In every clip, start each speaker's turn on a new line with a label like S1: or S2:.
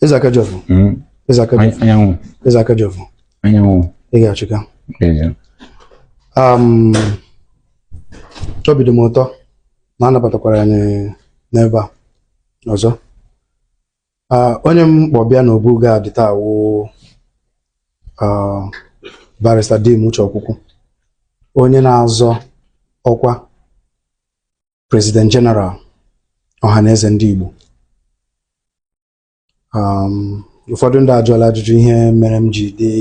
S1: Eze Akajiọfọ. Mm. Eze Akajiọfọ. Anyanwụ. Eze Akajiọfọ. Anyanwụ. Ị ga-achịka. Um, obi dị m ụtọ na a nabatakwara anyị n'ebe a ọzọ. Uh, onye m kpọ bịa n'Obu Gad taa wụ uh, Barrister Dim Uche Okwukwu onye na-azọ ọkwa President General Ọhaneze ndị Igbo um, ụfọdụ ndị ajụọla ajụjụ ihe mere m ji dị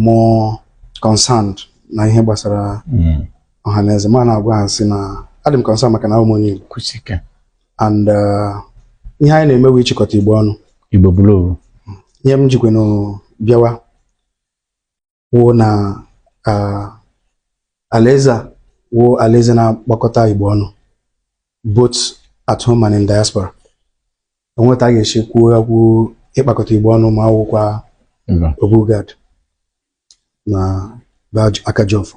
S1: more concerned na ihe gbasara hmm. Ọhaneze m ana-agwa ha sị na adị m concerned maka na abụ m onye Igbo and uh, ihe anyị na-eme wụ ịchịkọta Igbo ọnụ Igbo bụrụ
S2: ihe m
S1: jikwanụ bịawa wụ na alaeze a wụ alaeze na-akpọkọta Igbo ọnụ both at home and in diaspora o nwe etu a ga-esi kwuo okwu ịkpakọta Igbo ọnụ ma awụkwa Obu Gad na aka ji ọfọ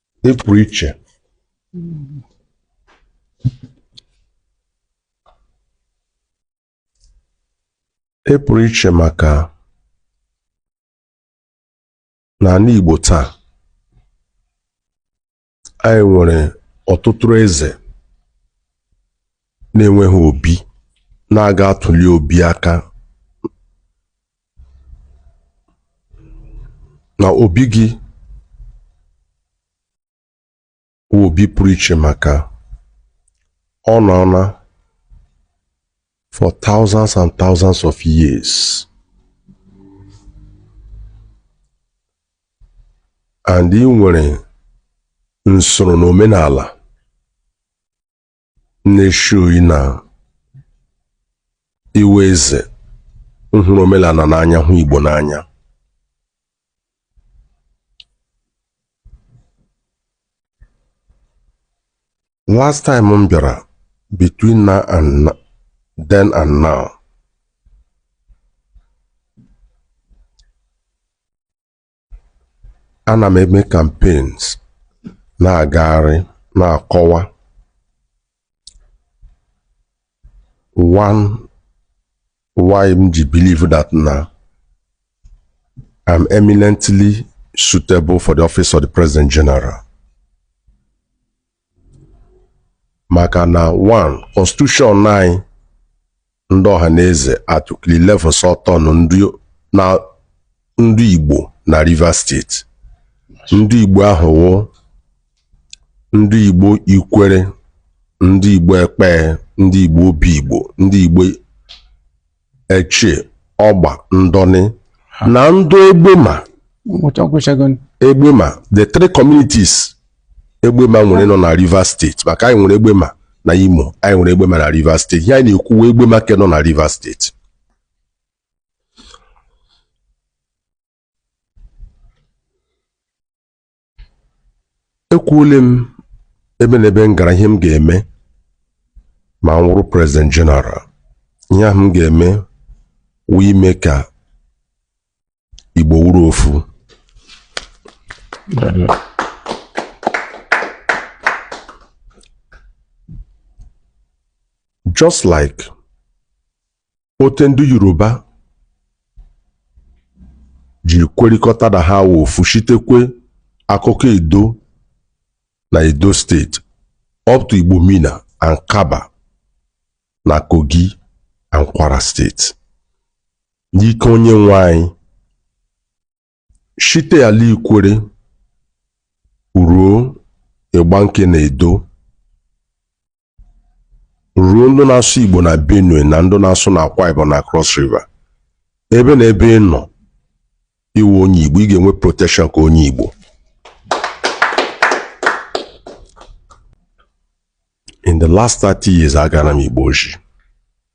S3: ị pụrụ iche ị pụrụ iche maka n'ala Igbo taa anyị nwere ọtụtụ eze na-enweghị obi na-aga atụli obi aka na obi gị bụ obi pụrụ iche maka ọ nọọla for thousands and thousands of years and ị nwere nsoro na omenala na-eshowi na ị wụ eze nhụrụ omenala n'anya hụ Igbo n'anya last time m bịara between now and then and now ana m eme campaigns na-agagharị na-akọwa w- why m ji believe that na I'm eminently suitable for the office of the President General. maka na one constitution anyị ndị Ọhaneze article eleven sị ọ turn ndị igbo na Rivers State ndị igbo ahụ wụ ndị igbo Ikwerre ndị igbo Ekpeye ndị igbo Obigbo ndị igbo eche ọgba ndọni na ndị egbema egbema the three communities egbema nwere nọ na Rivers steeti maka anyị nwere egbema na Imo anyị nwere egbema na Rivers steeti ihe anyị na-ekwu wụ egbema ke nọ na Rivers steeti ekwuole m ebe na ebe m gara ihe m ga-eme ma m wụrụ prezident jeneral ihe ahụ m ga-eme wụ ime ka igbo wụrụ ofu just like ote ndị Yoruba ji kwerịkọta na ha wụ ofu shitekwe Akoko Edo na Edo steeti up to Igbomina and Kabba na Kogi and Kwara steeti n'ike onye nwe anyị Shite ala Ikwerre ruo Igbanke na Edo ruo ndị na-asụ Igbo na Benue na ndị na-asụ na Akwa Ibom na Cross River ebe na ebe ị nọ ị wụ onye Igbo ị ga-enwe protection ka onye Igbo in the last 30 years agara m Igbo ozhi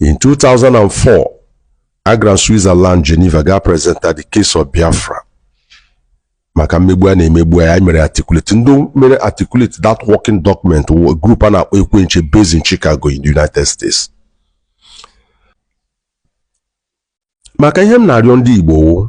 S3: In 2004, agara m Switzerland Geneva gaa presenta the case of Biafra maka mmegbu a na-emegbu ya mere articulate ndị mere articulate that working document wụ group a na-akpọ Ekwe Nche based in Chicago in the United States maka ihe m na-arịọ ndị Igbo wụ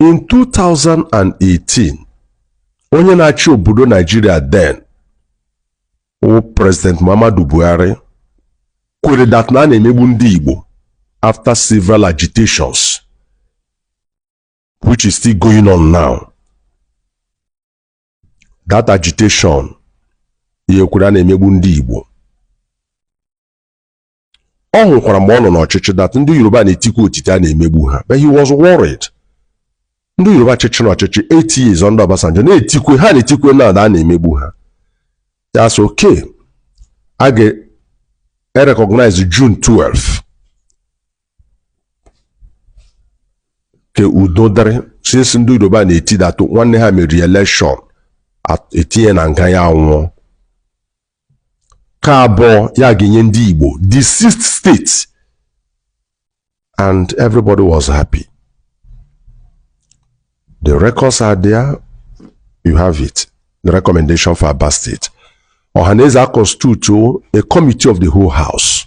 S3: in 2018 onye na-achị obodo naijiria then wụ president muhammadu buhari kwere that na a na-emegbu ndị igbo after several agitations which is still going on now That agitation ya kwere a na-emegbu ndị Igbo ọ hụkwara mgbe ọ nọ n'ọchịchị that ndị Yoruba na-etikwa otite a na-emegbu ha but he was worried ndị Yoruba chịchị n'ọchịchị eight years under Obasanjo na-etikwe ha na-etikwe na a na-emegbu ha ya asị okay a ga-erecognize June 12 ka udo dịrị since ndị yoruba na-eti that nwanne ha meriri election at- etinye na nga ya anwụọ ka abụọ ya ga-enye ndị igbo the sixth state and everybody was happy the records are there you have it the recommendation for Aba State. Ohaneze constitute a committee of the whole house.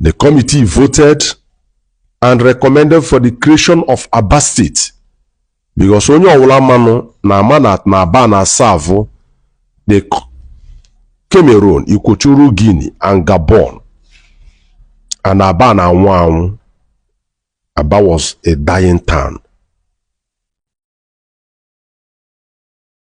S3: The committee voted and recommended for the creation of Aba State because onye ọwụla manụ na ama na na Aba na-aserve the Cameroon, Equatorial Guinea and Gabon and Aba na-anwụ anwụ Aba was a dying town.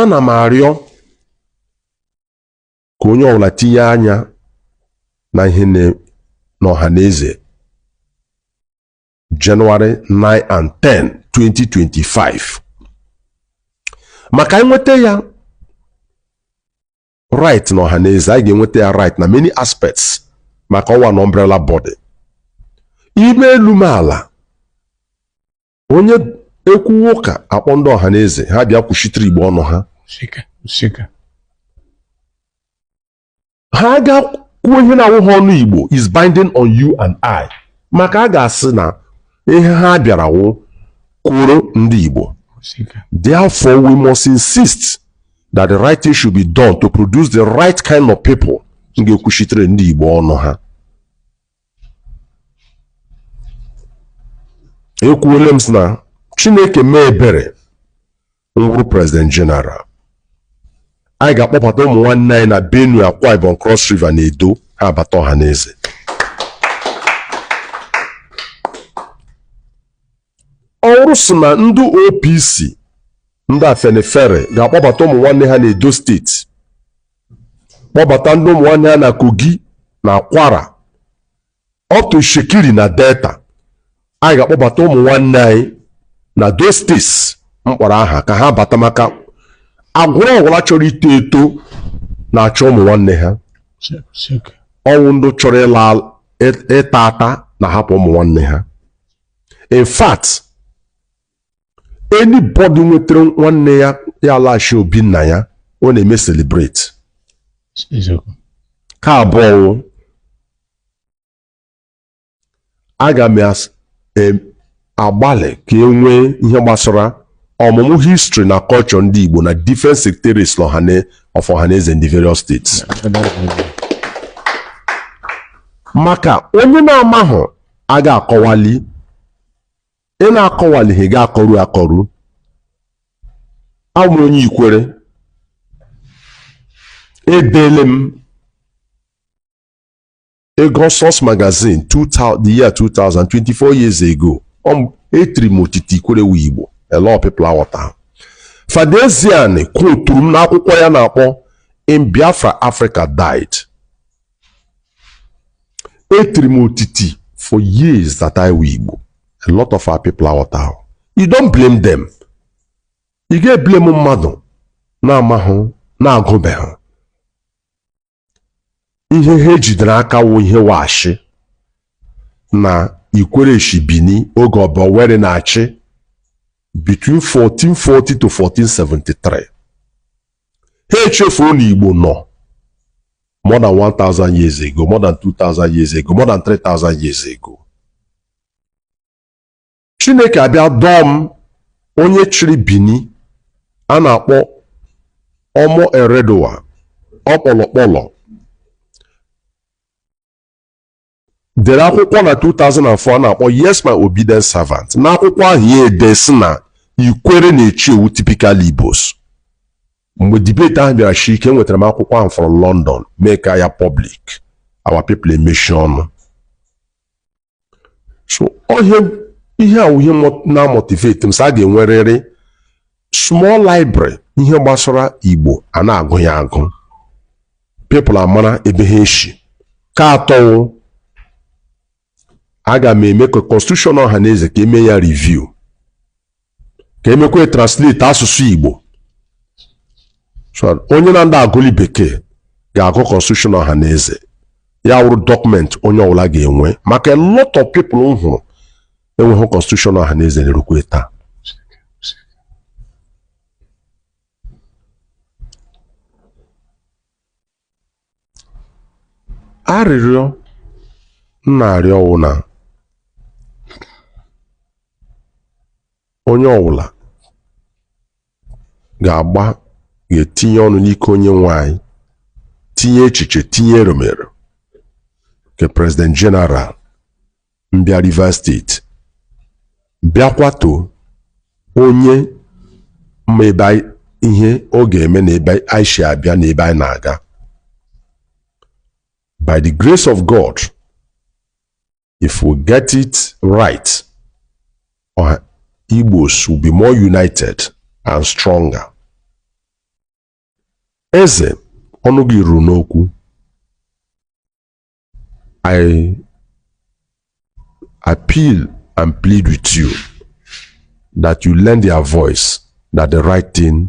S3: ana m arịọ ka onye ọbụla tinye anya na ihe n'Ọhaneze Jenụwarị 9 and 10 2025 maka e nweta ya right na Ọhaneze anyị ga-enweta ya right na many aspects maka ọ wụ an umbrella body i mee elu mee ala onye e kwuwa ụka a kpọọ ndị Ọhaneze ha bịa kwuchitere igbo ọnụ ha ha gaa kwuo ihe na-awụha ọnụ igbo is binding on you and I maka a ga-asị na ihe ha bịara wụ ikwuru ndị igbo therefore we must insist that the right thing should be done to produce the right kind of people ga-ekwuchitere ndị igbo ọnụ ha ekwuole m sị na chineke mee ebere m wụrụ president general anyị ga-akpọbata ụmụ nwanne anyị na benue akwa ibom cross river na edo ha abata Ọhaneze ọ wụrụ sị na ndị opc ndị afenifere ga-akpọbata ụmụ nwanne ha na edo steeti kpọbata ndị ụmụ nwanne ha na Kogi na Kwara Itsekiri na Delta anyị ga-akpọbata ụmụ nwanne anyị na those states m kpọrọ aha ka ha bata maka agbụrụ ọwụla chọrọ ito eto na-achọ ụmụ nwanne ha ọ wụ ndị chọrọ ịta ata na-ahapụ ụmụ nwanne ha in fact anybody nwetara nwanne ya ya alaghachi obi nna ya ọ na-eme celebrate ka abụọ aga m agbalị ka e nwee ihe gbasara ọmụmụ history na culture ndị Igbo na different secretaries of Ohaneze in the various states maka onye na-amahụ aga akọwali ị na-akọwalighị ga-akọrụ akọrụ abụ m onye ikwere edeele m ego Source magazine 2000 the year 2000 24 years ago etiri m otiti ikwere wụ igbo a lot of people aghọtahụ Father Ezeani kwuturu m n'akwụkwọ ya na-akpọ In Biafra Africa Died etiri m otiti for years that ikwere wụ Igbo a lot of our people aghọtahụ you don't blame them ị ga-eblem mmadụ na-amahụ na-agụbeghị ihe ha ejidere aka wụ ihe wa shị na ikwere shi Bini oge Oba Ewuare na-achị between 1440 to 1473 ha echefuo na Igbo nọ more than 1,000 years ago, more than 2,000 years ago, more than 3,000 years ago. Chineke abịa dọọ m onye chịrị Bini a na-akpọ Ọmọ Erediauwa Akpolokpolo dere akwụkwọ na 2004 a na-akpọ Yes My Obedient Servant n'akwụkwọ ahụ ya edee sị na ikwere na Etche wụ typical Igbos mgbe debate ahụ bịara shi ike enwetara m akwụkwọ ahụ from London mee ka ya public our people emechie ọnụ so ihe ihe a wụ ihe na-amotivate m sị a ga-enwerịrị small library ihe gbasara Igbo a na-agụ ya agụ people amara ebe ha eshi ka atọ aga m eme ka constitution Ohaneze ka e mee ya review ka e mekwaa translate asụsụ Igbo so onye na-adịghị agụli bekee ga-agụ constitution Ohaneze ya awụrụ document onye ọbụla ga-enwe maka a lot of people m hụrụ enweghị constitution Ohaneze na-erukwe taa arịrịọ m na-arịọ wụ na onye ọwụla ga-agba ga-etinye ọnụ n'ike onye nwe anyị tinye echiche tinye eromero nke President General mbịa Rivers State bịakwato onye ma ebe ihe ọ ga-eme na ebe anyị si abịa na ebe anyị na-aga by the grace of God if we get it right, uh, Igbos will be more united and stronger. Eze ọnụ gị ruru n'okwu I appeal and plead with you that you lend your voice that the right thing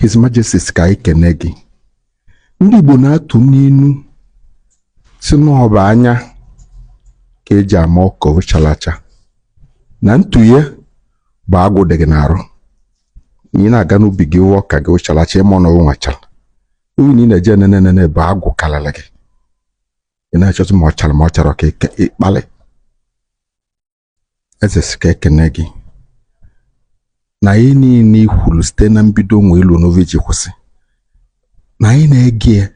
S4: His Majesty sị ka anyị kene gị ndị Igbo na-atụ n'inu sị na ọ bụ anya ka eji ama ọka chalụ acha na ntụghe bụ agụụ dị gị n'arụ na ị na-aga n'ubi gị hụ ọka gị ọ chalụ acha ịma na o nwachara oyi na ị na-eje nene nene bụ agụụ karịrị gị ị na-achọzi ma ọ chara ma ọ chara ka ị- ka ị kpalị eze sị ka ekene gị na ihe niile i kwuru site na mbido wee lue n'ovi ji kwụsị na anyị na-ege ya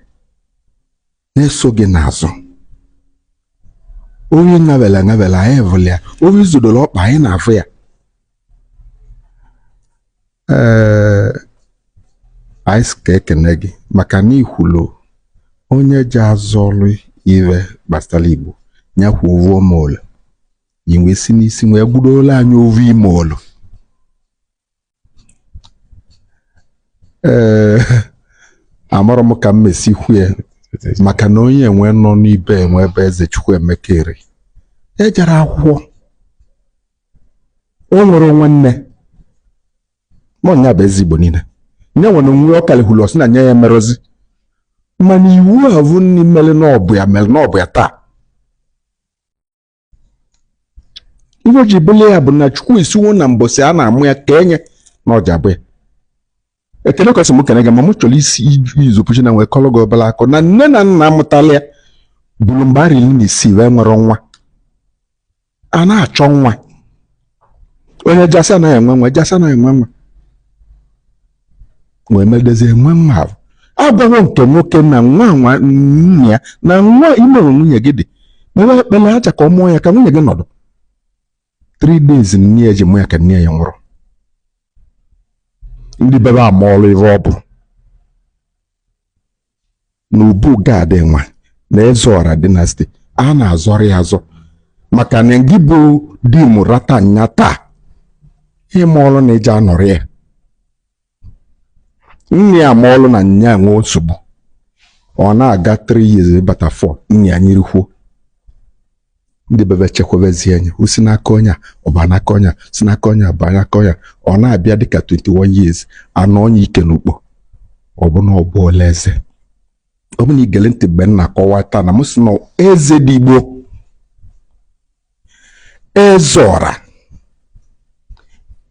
S4: na-eso gị n'azụ onye ṅabela ṅabela anyị vụlụ ya onye zọdoro ọkpa anyị na-afụ ya ee anyị sị ka ekene gị maka na ikwulu onye ja-azọrọ ihe gbasara Igbo ya kwuo ovu ime olu i wee si n'isi wee gbudola anyị ovu ime olu ee amarọ m ka m mesi kwue maka na onye enwe nọ n'ibe enwe ebe Eze Chukwuemeka Eri jere akwụkwọ o nwere onwe nne ma ọ nya bụ eze Igbo niile nye nwere onwe ọ kalihulu ọ sị na nye ya emerọzi mana ihe avụ nne mere na ọ bụ ya mere na ọ bụ ya taa ihe o ji bụlụ ya bụ na Chukwu sịwo na mbọsị a na-amụ ya ka enye na ọ ja-abụ ya ekene kwesị m kene gị ma m chọrọ isi use opportunity a wee kọlụ gị obere akụkọ na nne na nna amụtala ya bụrụ mgbe arọ iri na isii wee nwere nwa a na-achọ nwa onye jasị anaghị enwe nwa jasị anaghị enwe nwa wee medezie enwe nwa ahụ agwawo nke nwoke na nwa nwa nne ya na nwa imere nwunye gị dị mewe ekpere aja ka ọ mụọ ya ka nwunye gị nọdụ three days nne ya ji mụ ya ka nne ya nwụrụ ndị bebe amarọ ihe ọ bụ na Obu Gad nwa na Ezeora dynasty a na-azọrọ ya azọ maka na gị bụ di m rata nya taa ịma ọrụ na eji anọrị ya nne ya ma ọlụ na nya nwee nsogbu ọ na-aga 3 years bata 4 nne ya nyirikwuo ndị be be chekwabezie anya o si n'aka onye a ọ baa n'aka onye a si n'aka onye a baa n'aka onye a ọ na-abịa dịka 21 years a nọnye ike n'ukpo ọ bụ na ọ bụọla eze ọ bụ na i gele ntị mgbe m na-akọwa taa na m sị na eze dị igbo eze ọra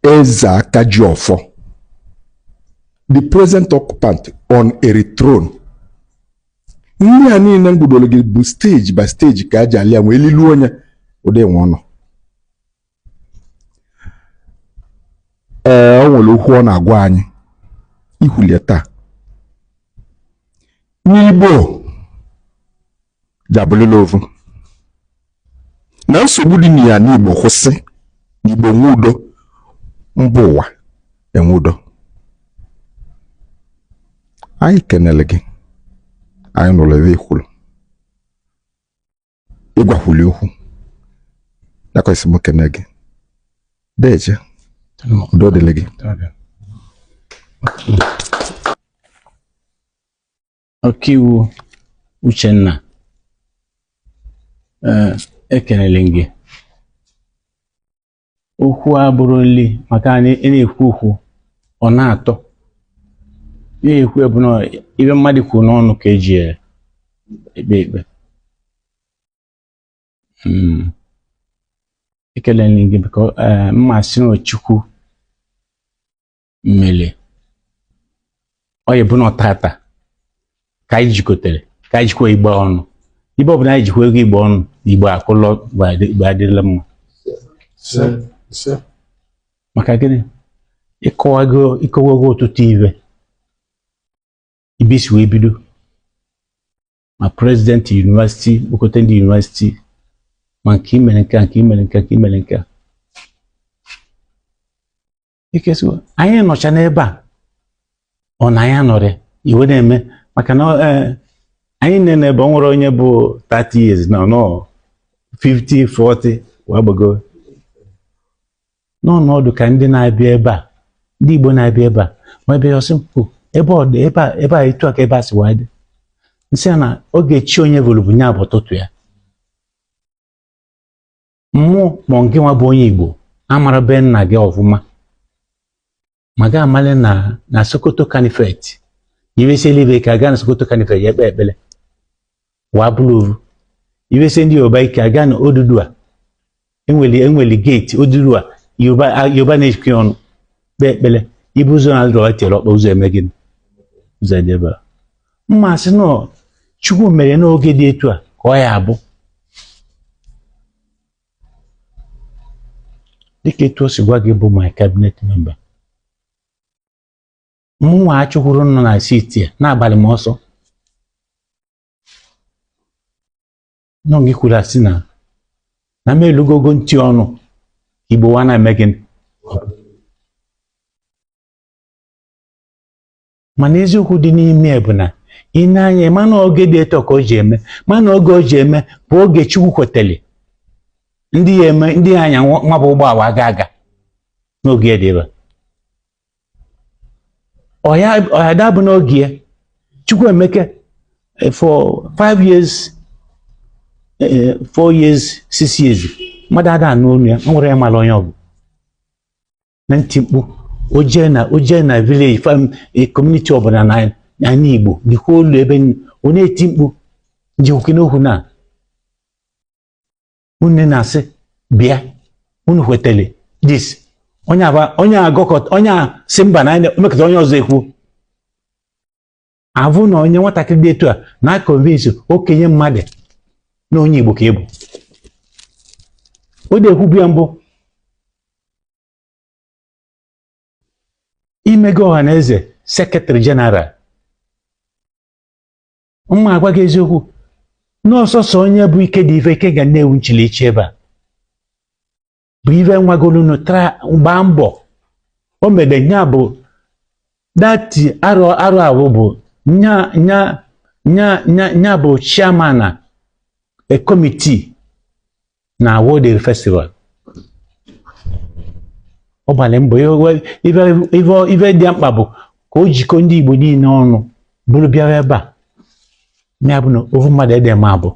S4: eze aka ji ọfọ the present occupant on Eri throne ndị a niile m gụdoro gị bụ stage by stage ka a ja-alịa nwee elilu onye ụdị nwe ọnụ ee ọ nwere okwu ọ na-agwa anyị i kwulie taa n'igbo ja-abụlịla ovu na nsogbu dị n'anị Igbo kwụsị n'Igbo nwee udo mba ụwa enwee udo anyị kenele gị anyị nụrụ ibe i kwuru ị gwakwuli okwu nakwesị m kene gị deje udo dịrị gị
S2: ọkaiwu Uchenna eh, ekelele gị okwu abụrụ nri maka na ị na-ekwu okwu ọ na-atọ na-ekwu bụ na ibe mmadụ kwuru n'ọnụ ka e ji ekpe ikpe hmm. ekelele gị biko eh, Mmasịnachukwu mmiri ọ ya bụ na ọtata ka anyị jikọtara ka anyị jikwa igbe ọnụ ibe ọbụla anyị jikwa ego igbe ọnụ na igbe akụlọ igbe adịla mma maka gịnị ịkọwago ịkọwago ọtụtụ ibe ibe isi wee bido ma prezidenti yunivasiti kpokọta ndị yunivasiti ma nke imere nke a nke imere nke a nke imere nke a ikesiwo anyị nọcha n'ebe a ọ na anyị anọrị ibe na-eme maka na eh, anyị nene ebe a ọ nwere onye bụ 30 years na-anọ 50 40 wee gbago n'ọnọdụ ka ndị na-abịa ebe a ndị Igbo na-abịa ebe a ma ebe ọsị mpụ ebe ọ dị ebe a ebe a etu a ka ebe a si wee dị m sị ya na oge chi onye voro bụ nya bụ ụtụtụ ya mụ ma nke nwa bụ onye Igbo amara be nna gị ọfụma ma gị amale na na Sokoto Caliphate ife sie ike a gaa na Sokoto Caliphate ya ekpe ekpele wa bụrụ ovu ife sie ndị Yoruba ike a gaa na Odudua enweli enweli gate Odudua Yoruba Yoruba na-ejikọ ya ọnụ kpee ekpele ibu ụzọ na-adịrọ tiere ọkpa ụzọ eme gịnị ụzọ edebe m ma-asị na Chukwu mere na oge dị etu a ka ọ ya-abụ dịka etu o si gwa gị bụ my cabinet member mụnwa achụkwuru nọ na city a na-agbalị m ọsọ nọ gị kwuru asị na na m elugogo ntị ọnụ Igbo wa na-eme gịnị mana eziokwu dị n'ime ya bụ na ị na-anya mana oge dị etu a ka o ji eme mana oge o ji eme bụ oge Chukwu kweteli ndị ya eme ndị ya anya nwa nwa bụ ụgbọala aga aga n'oge ya dị ebe ọya ọya dabụ n'oge ya Chukwu emeke eh, for five years eh, four years six years mmadụ ada anụ olu ya o nwere ya mara onye ọ bụ na-eti mkpu o jee na o jee na village community ọbụla n'anị Igbo dịkwa olu ebe ọ na-eti mkpu njikwoke n'okwu na unu na-asị bịa unu kwetele this onye agọkọta onye a sị mba na emekọta onye ọzọ ekwu avụ na onye nwatakịrị dị etu a na-aconvince okenye mmadụ na onye Igbo ka ị bụ o dị ekwubu ya mbụ i mego Ọhanaeze secretary general m ma-agwa gị eziokwu na ọ sọsọ onye bụ ike dị ife ike ga na-ewu nchilichi ebe a bụ ife nwagolunu tara gbaa mbọ o mere nya bụ that arọ arọ ahụ bụ nya nya nya nya nya bụ chairman na a committee na World Eri festival ọ gbalị mbọ ya we- ife ife ife dị mkpa bụ ka o jikọ ndị Igbo niile ọnụ bụrụ bịara ebe a ya bụ na ofu mmadụ ede ma abụ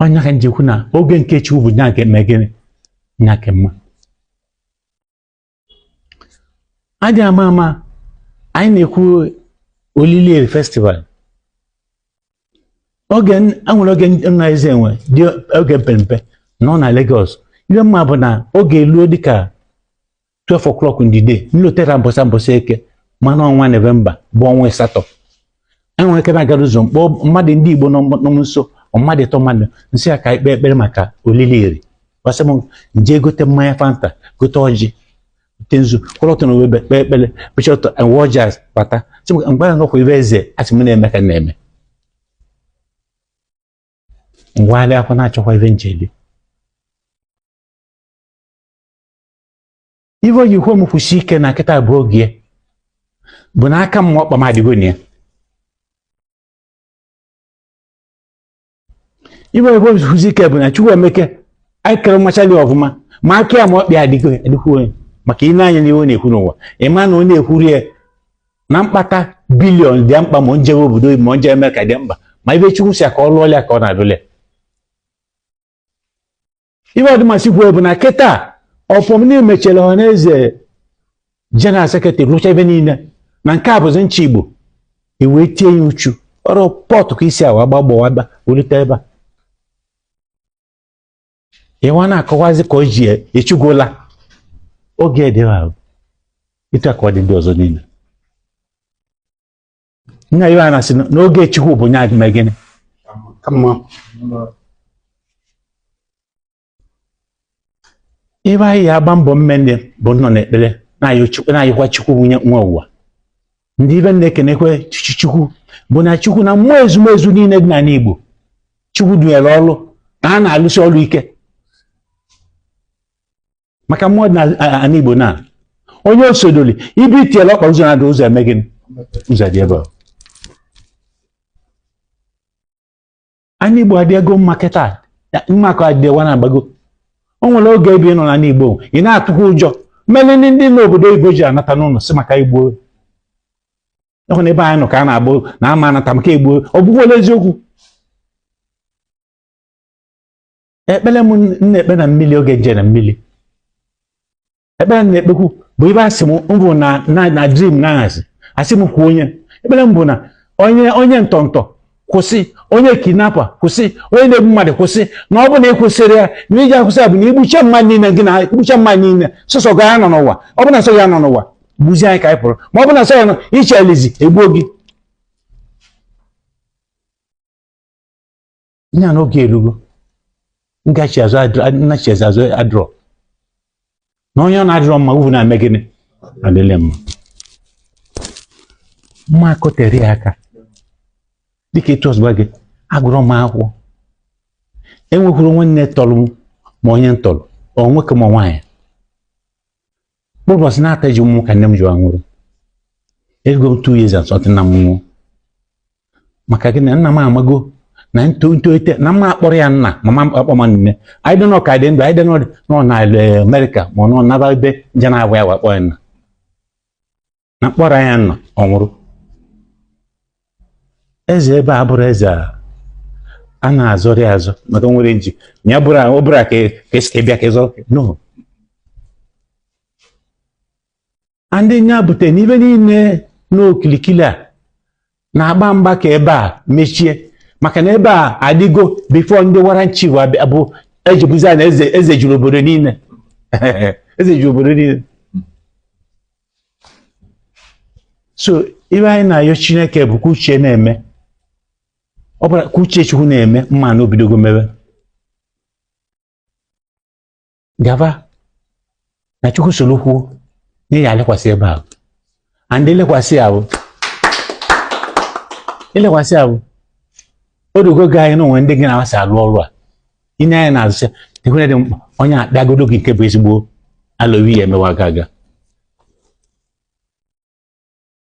S2: nya ka m ji kwu na oge nke Chukwu bụ nya nke eme gịnị nya ka mma adị ama ama anyị na-ekwu olili Eri festival oge enwere oge nna eze enwe dị oge mpempe nọ na Lagos ihe m ma bụ na oge eluo dịka 12 o'clock in the day nlotere mbọsị a mbọsị eke mana ọnwa novemba bụ ọnwa asatọ enwere ike na-agara ụzọ mkpọ mmadụ ndị igbo nọ m nso mmadụ ịtọ mmadụ nsị ya ka ikpe ekpere maka olili eri ọ sị m nje gote mmanya fanta gote ọjị gote nzu kwụrụ ọtọ na webe kpee ekpere kpechi ọtọ enwe ọjị bata sị m mgbe ahụ ibe eze asị m na-eme ka na-eme ngwagharị akwa na-achọkwa ibe njeli ife o ji kwe m kwụsi ike na kịta bụ oge bụ na aka m ọkpa m adịgo na ya ife o ji kwe m kwụsi ike bụ na chukwu emeke anyị kere mmachali ọfụma ma aka ya ma ọkpa ya adịgo adịkwu onye maka ị na-anya n'ihe ọ na-ekwu n'ụwa ị ma na ọ na-ekwuri ya na mkpata bilion dị mkpa ma njewe obodo ma nje eme ka dị mkpa ma ibe chukwu si ya ka ọ lụọ ya ka ọ na-alụle ibe ọdịmasị kwuo bụ na kịta ọfọm niile mechara ọha na eze jeneral sekretrị rụcha ebe niile na nke a bụzi nche igbo ewee tie ya uchu ọrụ pọtụ ka isi awa gbagbawa ebe welite ebe a ịwa na-akọwazi ka o ji echugwola oge dị ahụ ịta ka ọ dị ndị ọzọ niile nna ya na-asị na- n'oge chukwu bụ nya ga-eme gịnị ka mma ibe anyị ya-agba mbọ mmenne bụ nọ n'ekpere na-ayọ chukwu na-ayọkwa chukwu onye nwe ụwa ndị ibe na-ekenekwa chi- chukwu bụ na chukwu na mmụọ ezumezu niile dị n'ala igbo chukwu dunyere ọrụ na ha na-alụsi ọrụ ike maka mmụọ dị na- a- ana igbo na onye osodoli ibe i tiela ọkpa ụzọ na-adị ụzọ eme gịnị ụzọ dị ebe a ana igbo adịego mma kịta mma ka ọ dịwa na-agbago o nwere oge ebe ị nọ n'ala igbo ị na-atụkwa ụjọ mere ndị ndị n'obodo oyibo ji anata n'ụlọ si maka igbo ịhụ na ebe anyị nọ ka a na-egbu na ama anata maka igbo ọ bụghị ole eziokwu ekpere m na-ekpe na mmiri oge nje na mmiri ekpere m na-ekpekwu bụ ibe asị m mbụ na na dream na ahazi asị m kwuo onye ekpere m bụ na onye onye ntọntọ kwụsị onye kidnapper kwụsị onye na-egbu mmadụ kwụsị na ọ bụ na ị kwụsịrị ya na i ji akwụsị ya bụ na igbucha mmadụ niile gị na igbucha mmadụ niile sọsọ gị ya-anọ n'ụwa ọ bụ na sọ ya nọ n'ụwa gbuzie anyị ka anyị pụrụ ma ọ bụ na sọ ya nọ iche elizi egbuo gị nya n'oge erugo ngachi azụ nnachi eze azụ adịrọ na onye ọ na-adịrọ mma uvu na-eme gịnị adịle mma mma akọtere ya aka dịka etu ọzọ gị agụrọ m akwụkwọ enwekwurọ nwanne tọrọ m ma onye m tọrọ ọ nwoke ma nwaanyị ụbọchị na-ata ji mụọ m ka nne m ji nwụrụ erugo m two years and something nna m nwụọ maka gịnị nna m amago na ntolite na m ma-akpọrọ ya nna ma m ma-akpọ ma nne anyị dị n'ọka dị ndụ anyị dị nọ na eh, America ma ọ nọ n'Aba ebe nje na-abụ ya wakpọ ya nna na m kpọrọ ya nna ọ nwụrụ eze ebe a abụrọ eze a na-azọrị azọ maka nwere nji ya bụrụ ọ bụrụ ka esi bịa ka ị zọ no ndị nya bute n'ibe niile n'okilikili a na-agba mgba ka ebe a mechie maka na ebe a adịgo before ndị warrant chief bụ ejibuzi a na eze eze juru obodo niile eze juru obodo niile so ibe anyị na-ayọ chineke bụ ka uche na-eme ọ bụla ka uche chukwu na-eme mana o bidogo mebe gaba na chukwu soro kwuo na ya alekwasị ebe ahụ and elekwasị ahụ elekwasị ahụ o dogo gị anyị na onwe ndị gị na-amasị alụ ọrụ a inye anyị na-azụcha dịkwere dị mkpa onye akpịagodo gị nke bụ ezigbo alowi ya emewa aga aga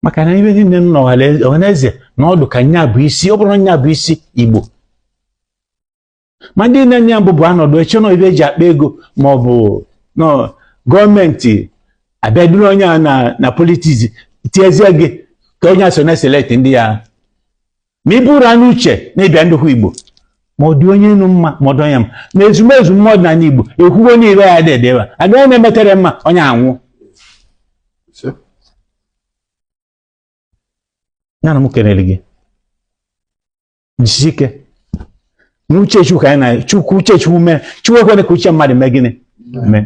S2: maka na ibe niile nọ ọhaneze na ọ dụ ka nya bụ isi ọ bụrọ nya bụ isi igbo ma ndị na-enye ya mbụ bụ anọdụ eche na ibe eji akpa ego ma ọ bụ na government abịa duru onye a na na politics tiezie gị ka onye a so na-eselect ndị ya ma ị bụrụ anya uche na ịbịa ndịkwu igbo ma ọ dị onye nụ mma ma ọ dị onye mma na ezumezu mmadụ na igbo ekwugo niile ya dị edebe agaghị na-emetere mma onye anwụ ya na m kelere gị jisi ike na uche chukwu ka anyị na chukwu uche chukwu mee chukwu ekwele ka uche mmadụ mee gịnị mee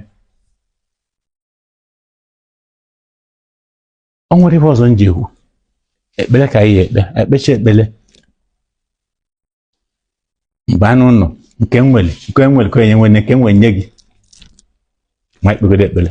S2: ọ nwere ibe ọzọ m ji ekpe ekpere ka anyị ekpe ekpecha ekpere mgbe anụ ụlọ nke nwere nke nwere ka onye nwere nke nwere nye gị ma i kpegodo ekpere